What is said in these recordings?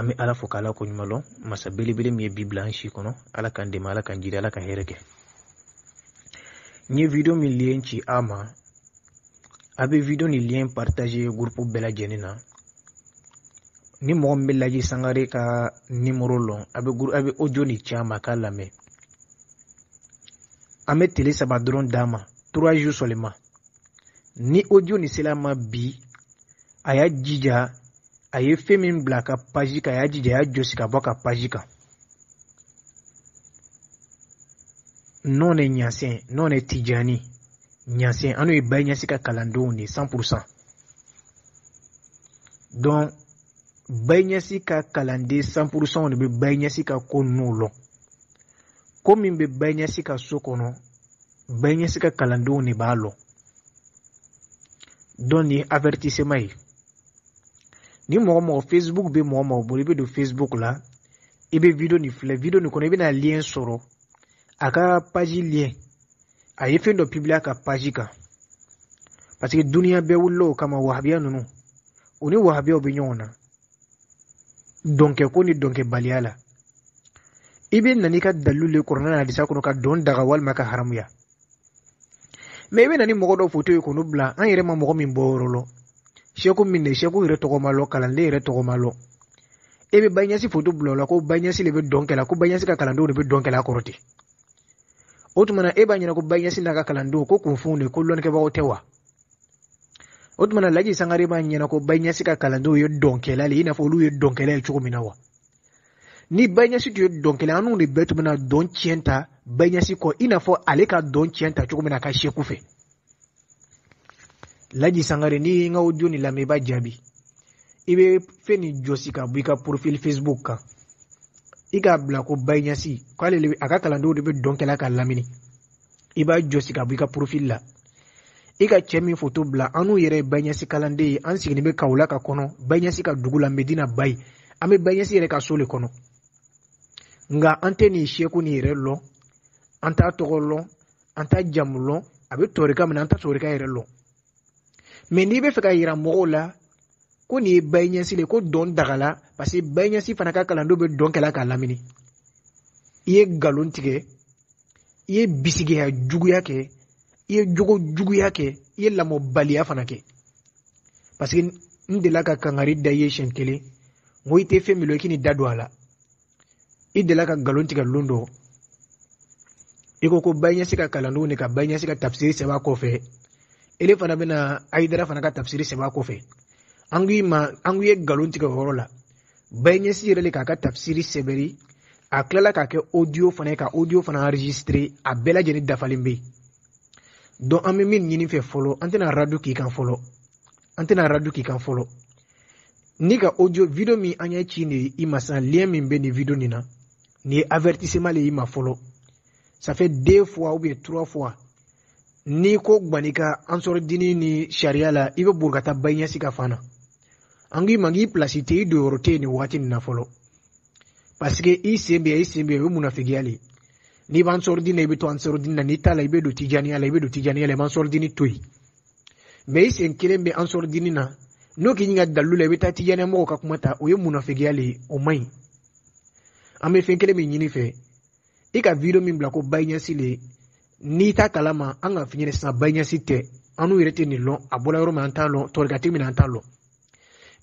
an bɛ ala fo k'ala ko ɲuman lɔn masa belebele min ye bi bila an si kɔnɔ ala k'an dɛmɛ ala k'an jiri ala ka hɛrɛ kɛ n ye video min lien ci a ma a bɛ video ni lien partager groupe bɛɛ lajɛlen na ni mɔgɔ min bɛ laji sangare ka nimoro lɔn a bɛ audio ni ci a ma k'a lamɛn an bɛ tile saba dɔrɔn d'a ma trois jours seulement ni audio ni sela a ma bi a y'a jija a ye fɛn min bila a ka paji kan a y'a jija a y'a jɔsi ka bɔ a ka paji kan nous on est ɲasɛn nous on est tijani ɲasɛn annu ye bayi ɲasi ka kalandenw de cent pour cent donc bayi ɲasi ka kalanden cent pour centw de bɛ bayi ɲasi ka ko ninnu lɔ ko min bɛ bayi ɲasi ka so kɔnɔ bayi ɲasi ka kalandenw de b'a lɔ donc nin ye avertissement ye ni mɔgɔ mɔgɔ facebook bɛ mɔgɔ mɔgɔ bolo i bɛ don facebook la i bɛ video nin filɛ video nin kɔnɔ i bɛna lien sɔrɔ a ka page lien a ye fɛn dɔ publier a ka page kan parce que duniya bɛɛ wulila o kama wahabiya ninnu u ni wahabiyaw bɛ ɲɔgɔn na dɔnkɛ ko ni dɔnkɛbaliya la i bɛ na n'i ka dalilu le kurana ni hadisa kɔnɔ ka dɔn daga walima k'a haramuya mais i bɛ na ni mɔgɔ dɔ foto ye k'olu bila an yɛrɛ ma mɔgɔ min bɔyɔrɔ lɔ seku min de seku yɛrɛ tɔgɔ ma lɔ kalanden yɛrɛ tɔgɔ ma lɔ e bɛ bayi ɲasi foto bila o la ko bayi ɲasi de bɛ dɔn kɛla ko bayi ɲasi ka kalandenw de bɛ dɔn kɛla kɔrɔ ten o tuma na e b'a ɲɛna ko bayi ɲasi n'a ka kalandenw ko kunfinw de ko lɔnnikɛbagaw tɛ wa o tumana laji sangare b'a ɲɛna ko bayi ɲasi ka kalandenw ye dɔnkɛla le i n'a fɔ olu ye dɔnkɛla ye cogo min na wa ni bayi ɲasi tun ye dɔnkɛla annu de bɛɛ tun bɛna dɔn ciyɛn ta bayi ɲasi kɔ i n'a fɔ ale ka dɔn ciyɛn ta cogo min na a ka seku fɛ laji sangare n'i ye n ka audio ni lamɛn i b'a jaabi i bɛ fɛn nin jɔsi ka bɔ i ka profil facebook kan i k'a bila ko bayi ɲasi k'ale a ka kalandenw de bɛ dɔn kɛla k'a lamini i b'a jɔsi ka bɔ i ka profil la i ka cɛ min foto bila annu yɛrɛ ye bayi ɲasi kalanden ye an siginin be kaolack kɔnɔ bayi ɲasi ka dugu la medina bayi an be bayi ɲasi yɛrɛ ka so le kɔnɔ nga an tɛ nin seku nin yɛrɛ lɔn an t'a tɔgɔ lɔn an t'a jamu lɔn a be tɔrika min na an t'a tɔrika yɛrɛ lɔn mais n'i b'a fɛ k'a yira mɔgɔw la ko nin ye bayi ɲasi de ko dɔn dagala parce que bayi ɲasi fana ka kalandenw bɛ dɔn kɛla k'a lamini i ye nkalon tigɛ i ye bisigiya juguya kɛ i ye jogo juguya kɛ i ye lamɔbaliya fana kɛ parce que n delila ka kangari da i ye siɲɛ kelen n ko i tɛ fɛn min lɔ i kan'i da don a la i delila ka nkalon tigɛ lon dɔ i ko ko baɲɛsi ka kalandenw de ka baɲɛsi ka tafisiri sɛbɛn a kɔfɛ ele fana bɛna ayidara fana ka tafisiri sɛbɛn a kɔfɛ an k'i ma an k'i ye nkalon tigɛ o yɔrɔ la baɲɛsi yɛrɛ de k'a ka tafisiri sɛbɛri a tilala k'a kɛ audio fana ye ka audio fana enregistrer a bɛɛ lajɛlen dafalen bɛ yen donc an bɛ min ɲini fɛ fɔlɔ an tɛna radu k'i kan fɔlɔ ne ka audio video min an y'a ci nin i ma sisan lien min bɛ nin video nin na nin ye avertissement de y'i ma fɔlɔ ça fait deux fois ou bien trois fois n'i ko gbani ka ansari dini ni sariya la i bɛ boli ka taa baɲɛsi ka fan na an k'i ma k'i pilasi tɛ i don yɔrɔ tɛ yen nin waati nin na fɔlɔ parce que i sen bɛ i sen bɛ o ye munafigiya de ye n'i bɛ ansari dini na i bɛ to ansari dini na n'i t'a la i bɛ don tijaniya la i bɛ don tijaniya la i bɛ ansari dini to yen mɛ i sen kelen bɛ ansari dini na n'o k'i ɲininka dalu la i bɛ taa tijaniya mɔgɔw ka kuma ta o ye munafigiya le ye o man ɲi an bɛ fɛn kelen min ɲini fɛ i ka video min bila ko bayiɲɛsi le n'i t'a kalama an k'a f'i ɲɛ na sisan bayiɲɛsi tɛ annu yɛrɛ tɛ nin lɔn a bɔla yɔrɔ min an t'a lɔn tɔrikatigi min an t'a lɔn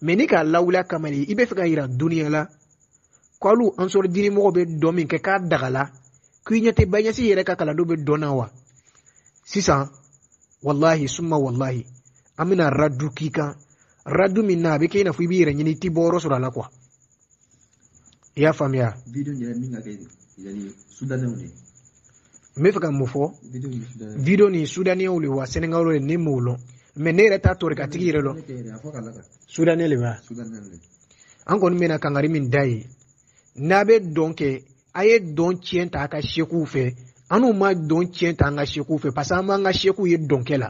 mɛ n'i k'a lawuli a kama de i b'a fɛ k'a yira duniya la ko alu ansari dinimɔgɔw bɛ dɔn min kɛ k'a dagala k'i ɲɛ tɛ baɲɛsi yɛrɛ ka kalandenw bɛ dɔn na wa sisan walahi suma walahi an bɛna radu k'i kan radu min na a bɛ kɛ i n'a fɔ i b'i yɛrɛ ɲini i t'i bɔ yɔrɔ sɔrɔ a la kuwa i y'a faamuya video yɛrɛ min ka kɛ yani sudanɛw de n b'a fɛ ka mun fɔ video ni sudaniyɛnw de wa sɛnɛgali de ne m'o lɔn mɛ ne yɛrɛ t'a tɔrikatigi yɛrɛ lɔn sudaniyɛn de b'a an kɔni bɛna kangari min d'a ye n'a bɛ dɔn kɛ a ye dɔn tiɲɛ ta a ka sekuw fɛ annu ma dɔn tiɲɛ ta an ka sekuw fɛ parce que an m'an ka sekuw ye dɔnkɛ la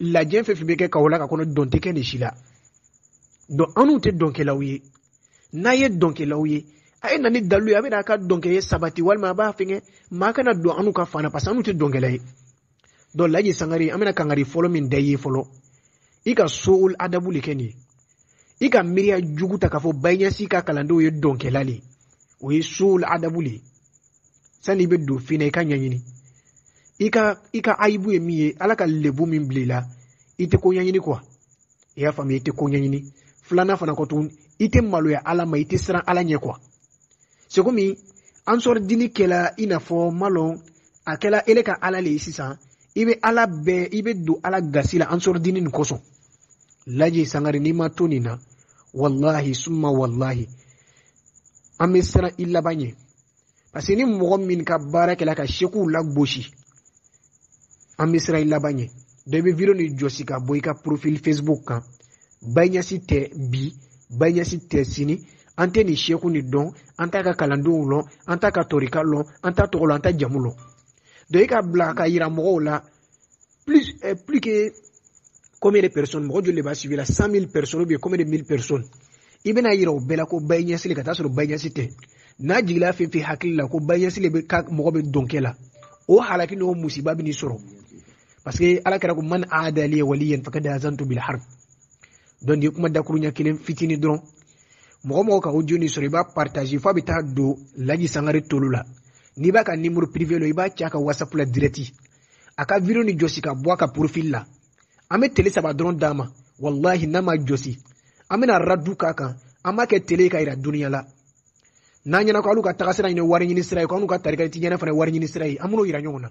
lajɛ fɛn fɛn bɛ kɛ kawulaki kɔnɔ dɔn tɛ kɛ nin si la donc anw tɛ dɔnkɛlaw ye n'a ye dɔnkɛlaw ye a ye na ni dalu ye a bɛna a ka dɔnkɛ ye sabati walima a b'a fɛnkɛ mɛ a kana don anw ka fan na parce que anw tɛ dɔnkɛla ye donc laji sangare an bɛna kangari fɔlɔ min d'i ye fɔlɔ i ka suul adabu de kɛ nin ye i ka miiriya jugu ta k'a fɔ baɲɛsi ka kalandenw ye dɔnkɛla de ye o ye suul adabu de ye sani i bɛ don fɛn na i k'a ɲɛɲini i ka i ka ayibu ye min ye ala ka lebu min bila i la i tɛ ko ɲɛɲini kuwa i y'a faamuya i tɛ ko ɲɛɲini filanan fana kɔ tuguni i tɛ maloya ala ma i tɛ siran ala ɲɛ kuwa c'est comme ansari dini kɛla i n'a fɔ n m'a lɔn a kɛla ele ka ala le ye sisan i bɛ ala bɛɛ i bɛ don ala gasi la ansari dini nin kosɔn laji sangare n'i ma to nin na walahi summa walahi an bɛ siran i laban ɲɛ parce que ni mɔgɔ min ka baara kɛla ka sekuw lagosi an bɛ siran i laban ɲɛ donc i bɛ video nin jɔsi ka bɔ i ka profil facebook kan bayi ɲasi tɛ bi bayi ɲasi tɛ sini an tɛ nin seku nin dɔn an t'a ka kalandenw lɔn an t'a ka torika lɔn an t'a tɔgɔ lɔn an t'a jamu lɔn donc i k'a bila k'a yira mɔgɔw la plus eh, plus que combien de personnes mɔgɔ joli de b'a suivi la 100000 personnes ou bien combien de 1000 personnes i bɛn'a yira o bɛɛ la ko bayi ɲasi le ka taa sɔrɔ bayi ɲasi tɛ n'a jigila fɛn fɛn hakili la ko bayi ɲasi de bɛ ka mɔgɔ bɛ dɔnkɛ la o halaki n'o musiba bɛn'i sɔrɔ parce que ala kira ko man aada liya waliyan fakada azantu bil harb donc nin kuma dakuruɲɛ kelen fitinin dɔrɔn mɔgɔ o mɔgɔ ka audio nin sɔrɔ i b'a partage f'a bɛ taa don laji sangare tolo la n'i b'a ka nimoro privé lɔn i b'a ci a ka whatsapp la direct a ka video nin jɔsi ka bɔ a ka profil la an bɛ tele saba dɔrɔn d'a ma walahi n'a m'a jɔsi an bɛna radu k'a kan an b'a kɛ tele ye k'a yira duniya la n'a ɲɛ na ko alu ka tagasira nin wari ɲini sira ye ko anu ka tarika tijaniya fana wari ɲini sira ye an b'o yira ɲɔgɔn na